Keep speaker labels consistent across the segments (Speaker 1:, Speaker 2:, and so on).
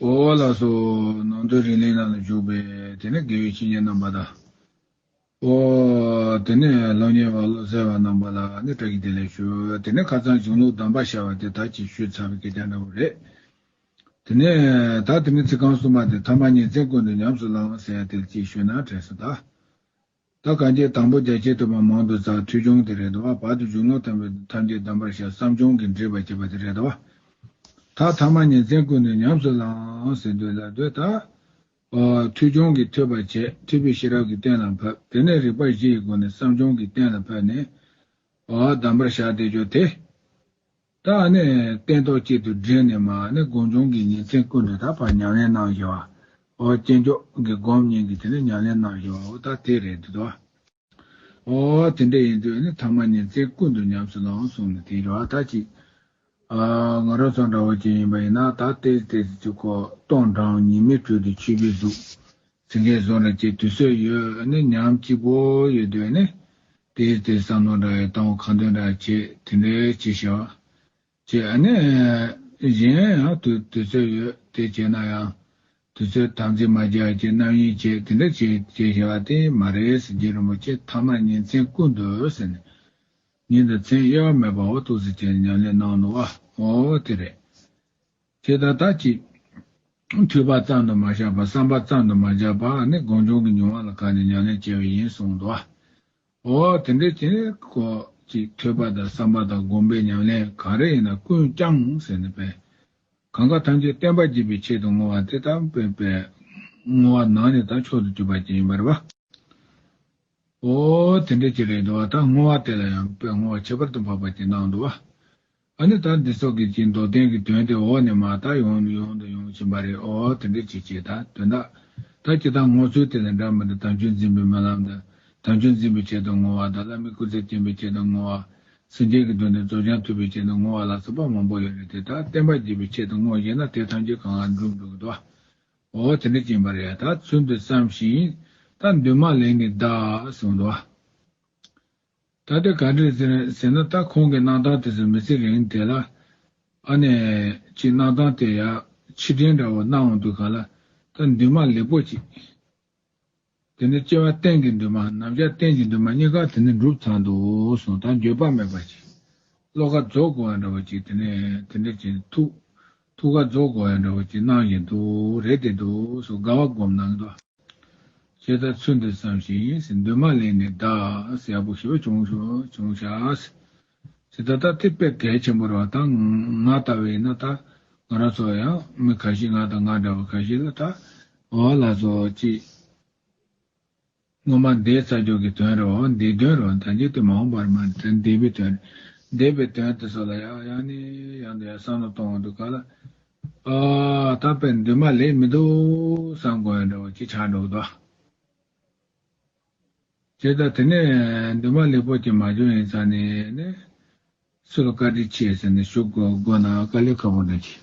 Speaker 1: ཨོ་ལ་སོགས་ནང་དོན་རིང་ལས་རྣམས་ལ་འཇུག་པས་དེ་ནས་དགེ་བའི་བཤེས་གཉེན་རྣམ་པ་དང། ཨོ། དེ་ནས་སློབ་གཉེར་བ་བློ་གསལ་བ་རྣམ་པ་ལ་ནི་བཀྲ་ཤིས་བདེ་ལེགས་ཞུ། དེ་ནས་ཁ་རྩང་འབྱུང་ལུགས་གདམས་པ་ཤར་བ་དེ་དག་གྱིས་ཞུས་ཚར་བའི་སྐད་ཆ་འདྲ་བོ་རེད། དེ་ནས་ད་དེ་ནི་ཚིག་རྐང་གསུམ་པ་དེ་ཐ་མ་གཉིས་ཚན་ཀུན་ཏུ་ཉམས་སུ་བླང་ཟེར་ཡ་དེ་ལ་ཅིག་ཞུས་ན་དྲན་ས་དང། ད་གང་བྱས་དང་པོ་རྒྱ་ཆེ་དུ་མ་མང་དུ་བཟའ་ཐུལ་སྦྱོང་དེ་རེད་དོ། བར་དུ་འཇུག་ལོངས་སྟོན་པའི་དོན་ཐམས་ཅད་གདམས་པར་བྱ་བསམ་སྦྱོང་གིས་འདྲིས་པར་བྱེད་པ་དེ་རེད་དོ། ད་ཐ་མ་ཉིན་མཚན་ཀུན་ནས་ཉམས་སུ་བླངས་ཟིན་དུས་ལ་སྡོད་ད། ཐུལ་སྦྱོང་གིས་ཐོས་པར་བྱས་ཐོས་པས་ཤེས་རབ་ཀྱི་གཏན་ལ་ཕབ་དེ་ནས་རིག་པ་བཞི་ཡི་སྒོ་ནས་བསམ་སྦྱོང་གིས་གཏན་ལ་ཕབ་ནས། གདམས་པར་བྱ་བདེ་སྦྱོར་དེ། ད་ནི་བསྟན་ཏོག་གཅིག་ཏུ་སྦྲེལ་ནས་མ་ནི་དགོངས་འབྱུང་གི་ཉིན་མཚན་ཀུན་དུ་དག་པར་ཉམས་ལེན་གནང་བཞི་བ། ཨོ་རྒྱན་མཆོག་གི་སྒོམ་ཉིན་གྱི་དེ་ནས་ཉམས་ལེན་གནང་བཞི་བའོ་ད་དེ་རེད་འདོད་དོ། ཨོ་དེ་འདྲ་ཡིན་དུས་ནི་ཐ་མ་ཉིན་མཚན་ཀུན་དུ་ཉམས་སུ་བླང་གསུངས་ནས་དེའི་རེ་བ་ད་ཅིག། ཨ་ང་རོ་ཚང་འདྲ་བོ་ཅིག་ཡིན་པ་ཡིན་ན་ད་དེ་དེ་ཅིག་གོ་སྟོང་འགྲངས་ཉི་མའི་དྲོད་དུ་འཁྱིལ་པའི་གཟུགས། ཟིན་ལྷའི་གཟུགས་ན་ཅིག་དུས་སྲོད་ཡོད་ནི་ཉམས་གཅིག་པོ་ཡོད་དུས་ནི། དེའི་ཚེ་བསམ་མནོ་འདྲ་ཡི་གཏང་བ་གང་འདོད་འདྲ་བྱེད་དེ་འདྲའི་ཕྱིར་བྱ། ཅེས་ནི། གཞན་ཡང་དུས་དུས་སྲོད་ཡོད་དེ་བྱེད་ན་ཡང། དུས་སྲོད་དམ་ཚིག་མ་སྦྱར་གྱི་རྣམ་དབྱེ་བྱེད་དེ་འདྲ་བྱེད་ཅེས་བྱ་བ་དེ་མ་རེད་སེང་གེ་རིན་པོ་ཆེ་ཐ་མར་ཉིན་མཚན་ཀུན་ཏུ་ཟིན་ནས། ཉིན་དང་མཚན་གཡོ་བ་མེད་པའོ་ཐུགས་སུ་བཅས་ནས་ཉམས་ལེན་གནང་ནོ་བའོ། དེ་རེད། དེ་ལྟར་དག་ཅིག། ཐོས་པ་ཙམ་དུ་མ་བཞག་པར་བསམ་པ་ཙམ་དུ་མ་བཞག་པར་ནི་དགོངས་འབྱུང་གི་མྱོང་བ་ལ་དགའ་ནས་མྱ་ངན་བྱེད་པ་ཡིན་གསུངས་སོ། འོ་དེ་འདྲའི་དེ་ནི་གོ། ཅིག་ཐོས་པ་དང་བསམ་པ་དང་བསྒོམ་པའི་ཉམས་ལེན་གང་རེ་ཡིན་ན་ཀུན་བསྐྱང་ཟེར་ནས་པས། གང་གཱ་ཐམས་ཅད་བརྟན་པར་བགྱིད་པའི་ཆེད་དུ་བསྔོ་བ་དེ་ལྟ་བུའི་པས། བསྔོ་བ་ནང་ནས་དང་མཆོག་ཏུ་གྱུར་པ་ཅན་ཡིན་པར་བ། འོ་དེ་འདྲའི་ཅི་རེ་ཟློ་བ་དག་བསྔོ་བ་དེ་ལ་ཡང་པས་བསྔོ་བ་ཁྱད་པར་དུ་འཕགས་པ་ཅན་སྣང་དུ་བ། ཨ་ནི་ད་འདི་ཚོ་གིས་ཀྱི་མདོ་བསྟན་གྱི་དོན་དེ་འོག་ནས་མ་བརྟགས་ཡོང་ནས་ཡོང་དང་ཡོང་བཞིན་པ་རེད་ཨོ་དེ་འདྲའི་བྱེད་བྱེད་དང་དོན་དག་དག་ཀྱི་དང་ངོ་ཚུལ་དེ་དང་འདྲ་མི་འདྲ་དམ་ཆོས་འཛིན་པའི་སྨོན་ལམ་དང་དམ་ཆོས་འཛིན་པའི་ཆེད་དུ་བསྔོ་བ་དང་བླ་མའི་སྐུ་ཚེ་བརྟན་པའི་ཆེད་དུ་བསྔོ་བ། སེམས་ཅན་གྱི་དོན་དུ་རྫོགས་བྱང་ཐུབ་པའི་ཆེད་དུ་བསྔོ་བ་ལ་སོགས་པ་མང་པོ་ཡོད་རེད་དེ་དག་བསྟན་པ་རྒྱས་པའི་ཆེད་དུ་བསྔོ་ཤེས་ན་དེ་ཐམས་ཅད་གང་ལ་འགྲུབ་འགྲོ་གི་འདུག་ཨོ་དེ་འདྲའི་བྱིན་པ་རེད་ད་ཚུལ་འདི་བསམ་ཞིང་ད་འདུན་མ་ལེགས་ནི་གདའ་གསུངས་འདུག། ད་ལྟ་ག་འདྲས་ཟེར་ཟེར་ན་ད་ཁོང་གི་གནང་སྟངས་དེ་ཚོ་མི་ཚེ་རིང་དེ་ལ། ཨ་ནས། ཀྱི་གནང་སྟངས་དེ་ཡ། ཕྱི་དྲན་འདྲ་བོ་གནང་འོང་འདུག་ག་ལ། ད་འདུན་མ་ལེགས་པོ་ཅིག། དེ་ནི་སྐྱེ་བ་གཏན་གྱི་འདུན་མ་ནམ་ཞག་གཏན་གྱི་འདུན་མ་གཉིས་ཀ་དེ་ནི་འགྲུབ་ཚར་འདུག་སོང་ད་འགྱོད་པ་མེད་པ་ཅིག། བློ་ཁ་རྫོགས་དགོས་བ་འདྲ་བོ་ཅིག་དེ་ནས་དེ་འདྲ་ཅིག་ཐུགས། ཐུགས་ཀར་རྫོགས་སྐོར་ཡང་འདྲ་བ་ཅིག་གནང་བཞིན་དུ་རེ་དེ་དུ་སོ་དགའ་བ་བསྒོམ་གནང་གདའ། ཁྱེད་ལྟར་ཚུལ་འདི་བསམ་ཞིང་འདུན་མ་ལེན་ནས་གདའ། ཡག་པོ་ཞུ་བ་བྱུང། བྱུང་བྱ། ཅི་ད་ལྟ་དེ་དཔེ་གལ་ཆེན་པོར་བ་དང་ང་ལྟ་བུ་ཡིན་ན་ད་ང་རང་ཚོ་ཡང་མི་ག་ཤིས་ང་དང་ང་འདྲ་བ་ག་ཤིས་ལ་ད་བ་ལ་ཚོ་ཅི། སྔོན་མ་འདས་རྩ་སྦྱོར་གྱི་དོན་རེའོ། འདས་དོན་རེའོ། དང་རྒྱུད་དུ་མ་འོངས་པར་མ་འདས་པའི་དོན་རེ། འདས་པའི་དོན་དེ་སོགས་ལ་ཡང། ཡང་ནི་ཡང་དུ་ཡང་བསམ་ལ་སྟོང་བར་འདུག་ག་ལ། དག་པའི་འདུན་མ་ལས་མི་འདུག། བསམ་དགོས་ཡང་འདྲའོ་ཅི་ཆགས་འགྲོ་བ་དག། ཅེས་དང་དེ་ནས་འདུན་མ་ལེགས་པོ་ཅན་མ་བྱུང་ཡིན་ཙང་ནི་ནི། སུ་ལ་བཀའ་དྲིན་ཆེ་ཟེར་ནས་ཞུ་དགོས་ན་བཀའ་ལས་ཁ་བོ་འདྲ་གྱིས།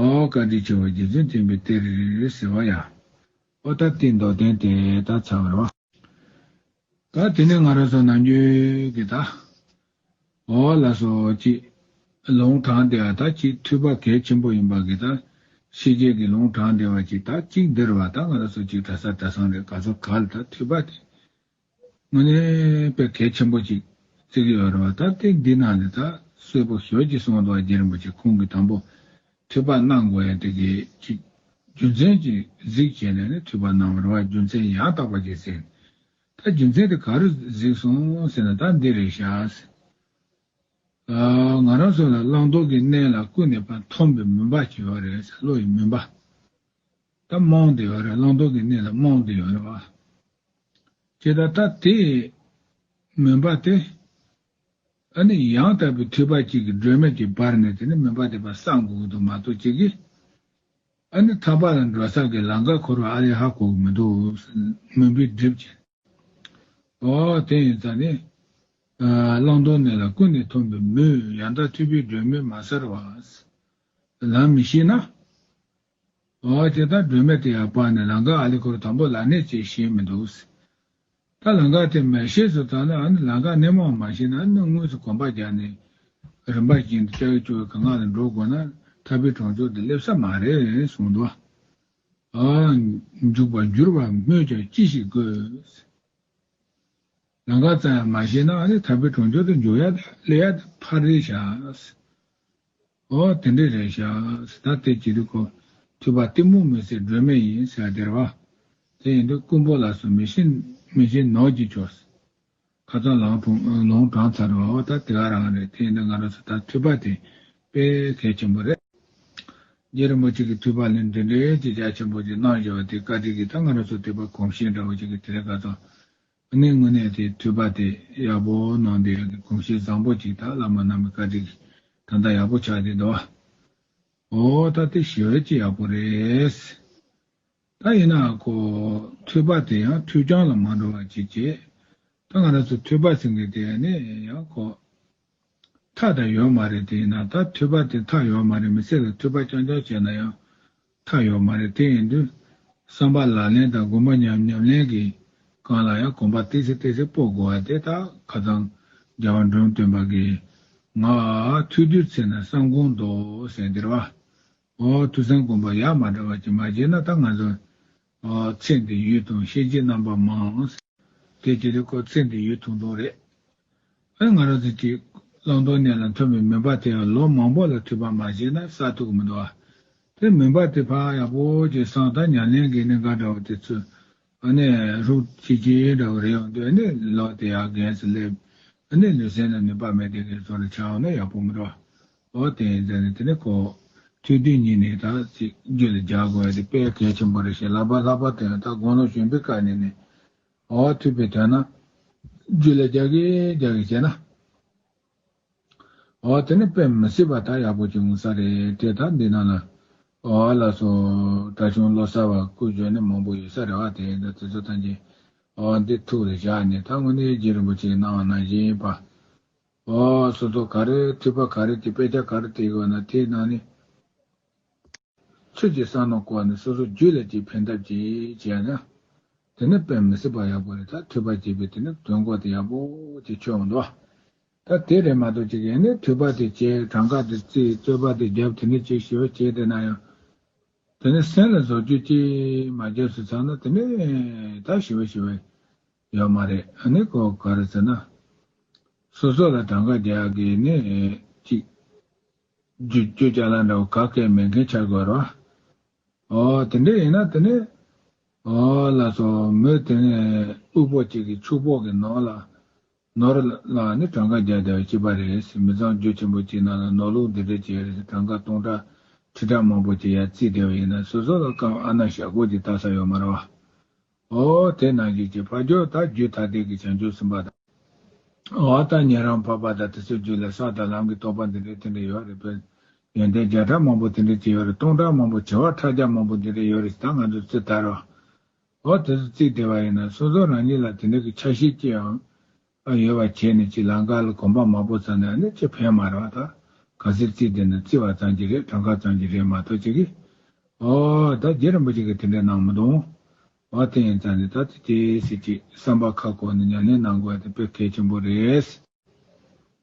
Speaker 1: ཨོ་བཀའ་དྲིན་ཆེ་བ་རྗེ་བཙུན་མཁྱེན་པའི་གཏེར། ཟེར་བ་ཡང། ཨོ་ད་ལྟའི་མདོ་བསྟན་དེ་དག་ཚར་བའི་བ། ད་དེ་ནས་ང་རང་སོང་ནམ་རྒྱུན་གྱི་ད། ཨོ་བ་ལ་སོ་གཅིག། ལུང་དྲངས་དེ་བ་ད་གཅིག་མཐུས་པ་གལ་ཆེན་པོ་ཡིན་པ་གི་ད། ཤེས་བྱེད་ཀྱི་ལུང་དྲངས་དེ་བ་གཅིག་ད་གཅིག་འདིར་བ་ད་ང་རང་སོ་གཅིག་གྲ་ས་གྲ་སང་རེད་ག་ཚོ་ག་ལ་ད་མཐུས་པ་དེ། དངོས་གནས་དཔེ་གལ་ཆེན་པོ་ཅིག་བརྩི་གི་ཡོད་རེད་བ་ད་དེ་འདི་ནང་ནས་ད་གསོས་པོ་ཞོལ་གྱི་གསུང་དང་རྒྱལ་རིན་པོ་ཆེ་ཁོང་གི་དང་པོ་འཐུས་པ་གནང་དགོས་ཡ་དེ་གས་ཅིག་རྒྱུ་མཚན་ཅིག་གཟིགས་བྱས་ནས་ནས་འཐུས་པ་གནང་བ་རེད་བ་རྒྱུ་མཚན་ཡང་དག་པ་ཅིག་གཟིགས་ནས་ད་རྒྱུ་མཚན་དེ་ག་རེ་གཟིགས་སོང་ཟེར་ན་ད་འདི་རེད་ཤག་ཟེར། ང་རང་ཚོ་ལ་བླང་དོར་གྱི་གནས་ལ་ཀུན་ནས་པ་མཐོང་པའི་མུན་པ་ཅིག་ཡོད་རེད་བློ་ཡི་མུན་པ། ད་རྨོངས་དེ་ཡོད་རེད་བླང་དོར་གྱི་གནས་ལ་རྨོངས་དེ་ཡོད་རེད་བ། ཁྱེད་ད་ལྟ་དེ་མུན་པ་དེ། ཨ་ནི་ཡང་དག་པའི་ཐོས་པ་གཅིག་གིས་སྒྲོན་མེ་དེ་འབར་ནས་དེ་ནི་མུན་པ་དེ་པ་སངས་དགོས་ཀྱི་འདུག་མ་གཏོགས་ཁྱེད་ཀྱིས། ཨ་ནི་ཐར་པ་ལ་འགྲོ་ས་གི་ལང་ཀ་འཁོར་བ་ཨ་ལེ་ཧ་གོ་གི་མི་འདུག་མུན་པའི་སྒྲིབ་ཅན། ཨོ། དེ་ཡིན་ཙང་ནི། བླང་དོར་གནས་ལ་ཀུན་ནས་འཐོམས་པའི་མུས། ཡང་དག་འཐུས་པའི་སྒྲོན་མེ་མ་གསལ་བ། ལམ་མི་ཤེས་ན། ཨོ། དེ་ལྟར་སྒྲོན་མེ་དེ་ཡང་སྤངས་ནས་ལང་ཀ་ཨཱ་ལི་འཁོར་དང་པོ་ལ་གནས་བཅས་ཤེས་མི་འདུག། ད་ལང་ཀ་དེ་མེད་ཤེས་སུ་བཏང་ན་ནི་ལང་ཀ་གནས་མང་མ་ཤེས་ན་ནི་དངོས་སུ་གོམ་པ་རྒྱག་ནས། རིམ་པར་བྱིངས་འདི་ལྕགས་ཀྱུ་ཀྱི་ངང་ལ་འགྲོ་དགོས་ན་ཐར་པའི་གྲོང་ཆོག་འདི་སླེབས་ས་མ་རེད་གསུངས་འདུག། འཇུག་པར་འགྱུར་བར་སྨོས་ཀྱང་ཅི་ཞིག་དགོས། ལང་ཀ་ཙམ་ཡང་མ་ཤེས་ན་ནི་དར་པའི་གྲོང་ཁྱེར་དུ་འཇུག་ཡ་དང་སླེབས་ཡ་དང་ཕར་རེ་བཞག། དེ་འདྲའི་རེ་བཞག་ད་སྟེ་ཅི་རིགས་གོ། འཐུས་པ་གཏི་མུག་མི་སེར་སྒྲོན་མེ་ཡིན་ཟེར་བ་དེར་བ། དེ་ཡིན་དུས་རྐུན་པོ་ལ་སོགས་མི་ཤེས་མི་འཇིགས་ནོར་གྱིས་ཆོག། ཁ་ཚ་ལང་ཕུང་ལོང་གྲང་ཚ་རུ་བ་ད་དེ་ག་རང་རེད་དེ་ཡིན་ན་ང་རང་ཚོ་ད་འཐུས་པ་དེ་དཔེ་གལ་ཆེན་པོ་རེད། རྗེ་རིན་པོ་ཆེ་གི་འཐུས་པ་ལས་འདི་འདྲའི་ཅི་བྱ་ཆེན་པོ་ཅིག་གནང་བཞིན་བ་དེ་བཀའ་དྲིན་གྱི་ད་ང་རང་ཚོ་འཐུས་པ་གོམ་ཞེང་འདྲ་བོ་ཅིག་གི་དེ་ག་ཚོ་ནི་དངོས་གནས་དེ་འཐུས་པ་དེ་ཡག་པོ་གནང་འདི་ཡག་གི་གོམ་ཞེང་བཟང་པོ་ཅིག་ད་བླ་མ་རྣམས་གི་བཀའ་དྲིན་གྱི་ད་ད་ཡག་པོ་ཆགས་འདི་འདུག་བ། ཨོ་ད་དེ་ཞི་བས་ཅི་ཡག་པོ་རེད། ད་ཡིན་ནའང་ཁོ། ཐོས་པ་དེ་ཡང་ཐོས་རྐྱང་ལ་མ་འགྲོ་བ་ཅིག་བྱེད། ད་ང་རང་ཚོ་ཐོས་པ་ཟེར་མཁན་དེ་ནི་ཡང་ཁོ། མཐའ་དང་ཡོད་མ་རེད་དེ་ཡིན་ན་ད་ཐོས་པ་དེ་མཐའ་ཡོད་མ་རེད་མི་ཚེ་ལ་ཐོས་པ་རྐྱང་རྐྱང་བྱས་ན་ཡང། མཐའ་ཡོད་མ་རེད་དེ་ཡིན་དུས། བསམ་པ་ལག་ལེན་དང་གོམ་པ་ཉམས་ཉམས་ལེན་གྱིས། གང་ལ་ཡང་གོམ་པ་བཏེགས་སེ་བཏེགས་སེ་སྤོ་དགོས་བ་དེ་ད་ཁ་ཚང། རྒྱ་བ་འབྲོམ་སྟོན་པ་གིས། ང། ཐོས་དུས་ཚེ་ན་བསམ་དགོངས་འདོགས་ཟེར་འདིར་བ། ཐུགས་སེམས་སྒོམ་པ་ཡང་མ་འདྲ་བ་ཅིག་མ་བྱས་ན་ད་ང་ཚོ། ཚེ་འདི་ཡུལ་དང་ཤེས་བྱའི་རྣམ་པ་མང། དེ་ཅི་རེད་ཁོ་ཚེ་འདི་ཡུལ་ཐུང་ཐུང་རེད། ཨ་ང་རོ་ཚེ་གཅིག། བླང་དོར་གནད་ལ་འཐོན་པའི་མུན་པ་དེ་ཡང་ལོ་མང་པོ་ལ་འཐུས་པ་མ་བྱས་ན་སྲ་ཐུག་མི་འདུག་ཨ། དེ་མུན་པ་དེ་འཕགས་ཡག་པོ་ཅིག་སངས་ད་ཉམས་ལེན་གྱི་ནི་འགའ་འདྲ་བ་དེ་ཚོས་ཨ་ནེ་ཧྲུག་ཅིག་ཅིག་འདྲ་བོ་རེད་འོང་དུས་ཨ་ནེ་ལོག་དེ་ཡར་གན་སུ་སླེབས། ཨ་ནེ་ལུས་སེམས་ལ་ནུས་པ་མེད་དེ་གན་ཚོགས་ལ་ཆ་འོང་ན་ཡག་པོ་མི་འགྲོ། ཨོ་དེ་ཡིན་ཙང་ནི་དེ་ནི་ཁོ། ཚུལ་དུས་ཉིད་ནས་ད་ཚིག་རྒྱུད་ལ་སྦྱར་དགོས་ཡ་དེ་དཔེ་གལ་ཆེན་པོ་རེད་ཞེས་ལག་པ་ལྷག་པར་དེ་ཡང་ད་དགོངས་ལོ་གཞོན་པའི་སྐབས་ནས་ནི། ཨོ་ཐུབ་པའི་དོན་ན། རྒྱུད་ལ་སྦྱར་གི་སྦྱར་གི་བྱས་ན། འོ་དེ་ནི་དཔེ་མི་སྲིད་པ་ད་ཡག་པོ་བྱུང་ས་རེད་དེ་དག་འདི་ན་ལ། འོ་ལ་སོ། དྲ་ཆུང་བློ་གསར་བ་ཀུ་ཇོ་ནི་མང་པོ་ཡོད་ས་རེད་བ་དེ་འདྲ་དེ་ཚོ་ཐམས་ཅད་འོ་འདི་ཐུགས་རེ་བཞག་ནས་ད་དངོས་གནས་རྗེ་རིན་པོ་ཆེའི་གནང་བ་ནང་བཞིན་ཡིན་པ། འོ་སོ་སོ་ག་རེ་འཐུས་པ་ག་རེ་དེ་དཔེ་ཆ་ག་རེ་དེ་གོ་ན་དེའི་ནང་ནས། ཚུལ་གྱིས་གསང་སྔགས་བསྐོར་ནས་སོ་སོ་རྒྱུད་ལ་གཅིག་ཕན་ཐབས་ཀྱིས་བྱས་ན། དེ་ནི་དཔེ་མི་སྲིད་པ་ཡག་པོ་རེད་ད་འཐུས་པ་བྱས་པས་དེ་ནི་དོན་གོ་ཏེ་ཡག་པོ་ཅིག་ཆོད་འོང་དོ། ད་དེ་རེད་མ་གཏོགས་གཅིག་ཡིན་ནས་འཐུས་པ་དེ་བྱས་གྲངས་ཀ་དེ་བརྩིས་རྩོད་པ་དེ་བརྒྱབ་དེ་ནས་ཅིག་ཞུ་བ་བྱས་བསྡད་ན་ཡང། དེ་ནི་སེམས་ལ་བཟོ་བཅོས་ཅིག་མ་བརྒྱབ་ཟེར་ཚར་ན་དེ་ནི་ད་ཞུ་བ་ཞུ་བ་ཡོད་མ་རེད་ཨ་ནི་གོ་ག་རེད་ཟེར་ན། སོ་སོ་ལ་གྲངས་ཀ་རྒྱག་དགོས་ནི་ཅིག། བརྗོད་བྱ་ལ་འདྲ་བོ་ག་གེ་མེད་མཁན་བྱ་དགོས་རོ། ཨོ། དེ་འདྲ་ཡིན་ན་དེ་ནི། ཨོ། ལ་སོགས་མོད་དེ་ནས་དབུལ་པོ་གཅིག་གིས་ཕྱུག་པོ་གི་ནོར་ལ། ནོར། ལ་ནི་གྲངས་ཀ་བརྒྱ་བརྒྱ་བའི་སྤྱི་པ་རེད། མི་ཚང་རྒྱུད་ཆེན་པོ་གཅིག་ནང་ལ་ནོར་ལུག་འདི་འདྲ་བྱས་རེད་གྲངས་ཀ་སྟོང་ཕྲག་ཁྲི་ཕྲག་མང་པོ་བྱས་ཡ་རྩིས་བསྡད་པ་ཡིན་ན་སོ་སོ་ལ་སྐབས་ཨ་ན་ཞག་སྒོར་གྱི་བལྟ་ས་ཡོད་མ་རེད་བ། ཨོ་དེ་ནང་བཞིན་བྱེད་ཕ་རྒྱོ་ད་རྒྱུད་ཐ་དད་ཀྱི་བྱང་ཆུབ་སེམས་དཔའ་དང། ཨོ་ད་ཉན་རང་འཕགས་པ་དང་དེ་ཚོའི་རྒྱུད་ལ་ས་དང་ལམ་གྱི་རྟོགས་པ་འདི་འདྲའི་དེ་འདྲ་ཡོད་རེད་པས། ཡོན་ཏན་བརྒྱ་ཕྲག་མང་པོ་དེ་འདྲའི་ཅི་ཡོད་རེད་སྟོང་ཕྲག་མང་པོ་བྱེ་བ་ཕྲག་བརྒྱ་མང་པོ་འདི་འདྲའི་ཡོད་རེད་ད་ང་ཚོས་ཚིག་དར་བ། ཨོ་དེ་ཚོ་ཚིག་དེ་བ་ཡིན་ན་སོ་སོ་རང་ཉིད་ལ་དེ་འདྲའི་གི་ཆ་ཤས་ཅི་ཡང། པ་ཡོད་པར་བྱས་ནས་ཅིག་ལང་ཀ་ལ་གོམ་པ་མང་པོ་བརྩ་ནས་ནི་ཅིག་ཕན་མ་རེད་བ་དང། ག་ཟེར་ཅིག་དེ་ནི་བརྩི་བ་ཙམ་གྱིས་རེད་གྲངས་ཀ་ཙམ་གྱིས་རེད་མ་གཏོགས་ཅིག་གིས། ཨོ། ད་རྗེ་རིན་པོ་ཆེ་གིས་དེ་འདྲ་གནང་མི་འདུག། ཨོ་དེ་ཡིན་ཙང་ནི་ད་ལྟ་དེ་སྲིད་ཅིག་བསམ་པ་ཁ་ཁོ་ནས་མྱ་ངན་གནང་དགོས་པ་དེ་དཔེ་གལ་ཆེན་པོ་རེད།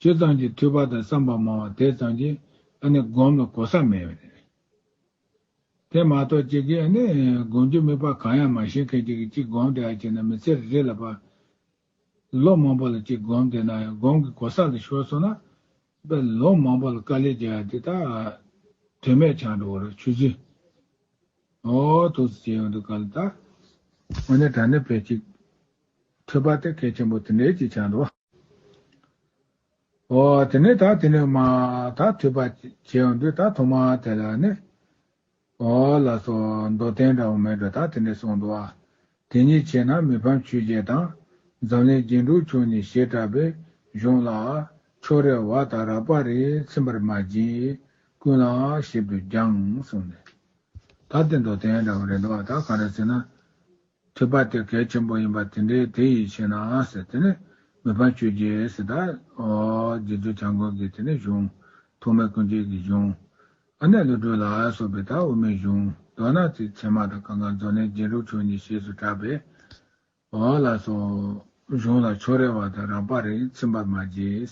Speaker 1: ཅི་ཙམ་གྱིས་འཐུས་པ་དང་བསམ་པ་མང་བ་དེ་ཙམ་གྱིས་ཨ་ནི་སྒོམ་ལ་གོ་ས་མེད་པ་རེད། དེ་མ་གཏོགས་གཅིག་གིས་ཨ་ནི་སྒོམ་རྒྱུ་མིག་པ་གང་ཡང་མ་ཤེས་མཁན་གཅིག་གིས་གཅིག་སྒོམ་དེ་ཨ་ཅེ་ན་མི་ཚེ་རེ་རེ་ལ་པ་ལོ་མང་པོ་ལ་གཅིག་སྒོམ་དེ་ན་ཡང་སྒོམ་གྱི་གོ་ས་ལ་ཤོར་སོང་ན་པ་ལོ་མང་པོ་ལ་དཀའ་ལས་བྱས་ཡ་དེ་ད་དོན་མེད་ཆགས་འགྲོ་བ་རེད་ཆུ་ཚོད་ཨོ་ཐུགས་སུ་བྱས་ཡོང་འདུག་ག་ལ་དག། ཨོ་ནི་ད་ནི་བེད་གཅིག་འཐུས་པ་དེ་གལ་ཆེན་པོ་དེ་འདྲས་ཅིག་ཆགས་འགྲོ། ཨོ། དེ་ནས་ད་དེ་ནས་མ་ད་ཐོས་པ་བྱས་འོ་འདོད་ད་ཐོ་མ་དེ་ལ་ནི། ཨོ་ལ་སོ་མདོ་བསྟན་འདྲ་བོ་མེད་འགྲོ་ད་དེ་ནས་སོང་འདུག་ཨ། དེ་གཉིས་བྱས་ན་མི་ཕམ་ཆོས་རྒྱལ་དང། འཛམ་གླིང་རྒྱན་དྲུག་མཆོག་གཉིས་ཞེས་གྲགས་པའི་གཞུང་ལ། ཕྱོགས་རེར་བ་དང་རགས་པ་རེ་ཚིམ་པར་མ་བགྱིས། ཀུན་ལ་ཞིབ་ཏུ་སྦྱངས་གསུངས་ནས། ད་དེ་མདོ་བསྟན་འདྲ་བོ་རེད་འདུག་ཨ་ད་གང་འདྲ་ཟེར་ན། ཐོས་པ་དེ་གལ་ཆེན་པོ་ཡིན་པ་དེ་འདྲའི་དེ་ཡིད་ཆེས་ན་ཟེར་དེ་ནས་མི་ཕམ་ཆོས་རྗེ་ཟེར་ད། རྗེ་བཙུན་བྱམས་མགོན་གྱི་དེ་ནས་བྱུང། ཐོག་མའི་ཀུན་བྱེད་ཀྱི་བྱུང། ཨ་ནེ་ཀླུ་སྒྲོལ་ལགས་སོགས་པའི་ད་དབུ་མའི་བྱུང་མདོ་ནག་ཚིག་ཚད་མ་དང་གངྒཱ་མཛོ་ནས་རྗེ་འབྲུག་ཆོས་ཉིད་ཞེས་སུ་གྲགས་པའི། ལ་སོགས། གཞུང་ལ་ཕྱོགས་རེ་བ་དང་རགས་པ་རེ་ཚིམ་པར་མ་བྱེད།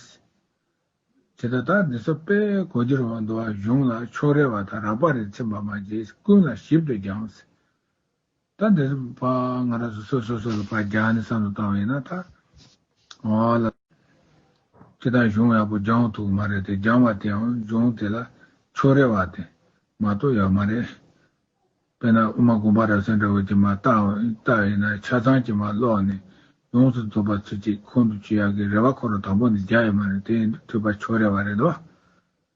Speaker 1: ཅེས་དང་ད་ནི་སོགས་པས་གོ་རྒྱུར་བ་མདོ་བ་གཞུང་ལ་ཕྱོགས་རེ་བ་དང་རགས་པ་རེ་ཚིམ་པར་མ་བྱེད་ཀུན་ལ་ཞིབ་ཏུ་སྦྱངས། ད་འདི་རུ་བ་ང་ར་སོ་སོ་སོ་ལ་བ་རྒྱ་ནི་བསམ་ལ་བཏང་བ་ཡིན་ན་ད་ང་ལ་ཅི་དང་གཞུང་ཡག་པོ་སྦྱང་ཐུག་མ་རེད་དེ་སྦྱང་བ་དེའང་གཞུང་དེ་ལ་ཕྱོགས་རེ་བ་དེ་མ་གཏོགས་ཡག་མ་རེད། དཔེ་ན་དབུ་མ་དགོངས་པ་རབ་གསལ་འདྲ་བོ་ཅིག་མ་བཏགས་བཏགས་ཡིན་ན་ཆ་ཚང་ཅིག་མ་ཀློག་ནས་ཡོངས་སུ་རྫོགས་པ་ཚུལ་གཅིག་ཁོང་དུ་ཆུད་ཡག་གི་རེ་བ་ཁོ་རང་དང་པོ་ནས་རྒྱག་ཡོད་མ་རེད་དེ་འདྲ་ཐུག་པ་ཕྱོགས་རེ་བ་རེད་དོ།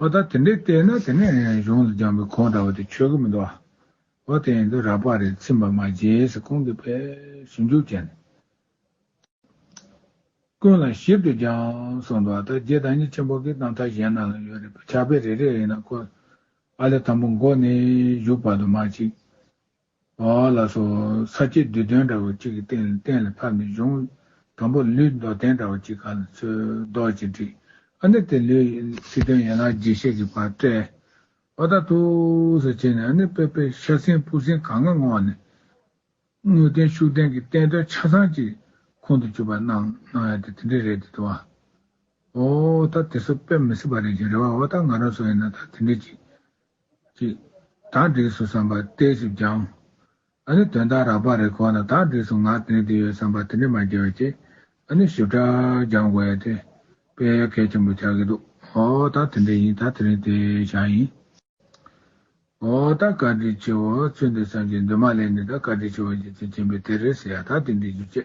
Speaker 1: ཨོ་ད་དེ་འདྲས་བལྟས་ན་དེ་ནས་གཞུང་དུ་སྦྱངས་པའི་གོང་འདྲ་བ་དེ་ཆོས་གོ་མི་འདུག་ཨ། ཨོ་དེ་ཡིན་དུས་རགས་པ་རེ་ཚིམས་པ་མ་བརྗེད་སྲིད་གོང་གི་པས་ཞིབ་འཇུག་བྱས་ནས། ཀུན་ལ་ཞིབ་ཏུ་སྦྱངས་གསུངས་འདུག་ཨ་ད་རྗེ་བདག་ཉིད་ཆེན་པོ་གིས་གཏམ་ཐག་གཞན་ན་ལ་ཡོད་རེད་པས་ཕྱག་དཔེ་རེ་རེ་ཡིན་ན་ཁོ། ཨ་ལས་དང་པོ་མགོ་ནས་བཞུགས་བར་དུ་མ་གཅིག། ལ་སོགས་ས་སྐྱའི་བསྡུས་དོན་འདྲ་བ་གཅིག་གི་སྟེང་ལས་གཏན་ལ་ཕབ་ནས་གཞུང། དང་པོ་ལུས་མདོ་བསྟན་འདྲ་བ་གཅིག་ག་ལ་འཚོལ་བཟློག་ཅིག་བྲིས། ཨ་ནི་དེ་ལུས་ཚིག་དོན་ཡན་ལག་རྒྱས་བཤད་ཀྱི་བར་བཀྲལ། བ་དག་ཐུགས་སུ་བྱས་ནས་ཨ་ནི་དཔལ་དཔལ་ཤ་སྲིན་སྤུ་སྲིན་གང་ག་ངོགས་ནས། དངོས་བསྟན་ཤུགས་བསྟན་གྱི་བསྟན་དོན་ཆ་ཚང་གཅིག་ཁོང་དུ་ཆུད་པར་སྣང། སྣང་ཡང་དེ་དེ་འདྲའི་རེད་དེ་དོ། ཨོ། ད་དེ་སོགས་དཔེ་མི་སྲིད་པ་རེད་ཅེས་རེ་བ་བ་དག་ང་རང་སོགས་ཡིན་ན་ད་དེ་འདྲའི་ཅིག་ཅིག། དག་སྒྲིགས་སུ་བསམ་པ་གཏད་ཞིབ་སྦྱང། ཨ་ནི་དོན་དག་རགས་པ་རེ་གོ་ན་དག་སྒྲིགས་སུ་ང་དེ་འདི་ཡོད་བསམ་པ་དེ་འདྲས་མ་འགྱེལ་བ་གྱིས་ཨ་ནི་ཞིབ་ཕྲ་སྦྱང་དགོས་ཡ་དེ། དཔེ་ཡོད་གལ་ཆེན་པོ་ཆགས་ཀྱི་འདུག་ཨོ་ད་དེ་འདྲས་ཡིན་ད་དེ་རིང་དེ་བཞག་ཡིན། ཨོ་ད་བཀའ་དྲིན་ཆེ་བོ་ཚུལ་འདི་བསམ་གྱིན་འདུག་མ་ལས་ནི་ད་བཀའ་དྲིན་ཆེ་བོ་བརྗེད་ཚིག་མཁྱེན་པའི་དེ་རེད་ཟེར་ཡ་ད་དེ་འདྲས་རྒྱུ་ཆེ།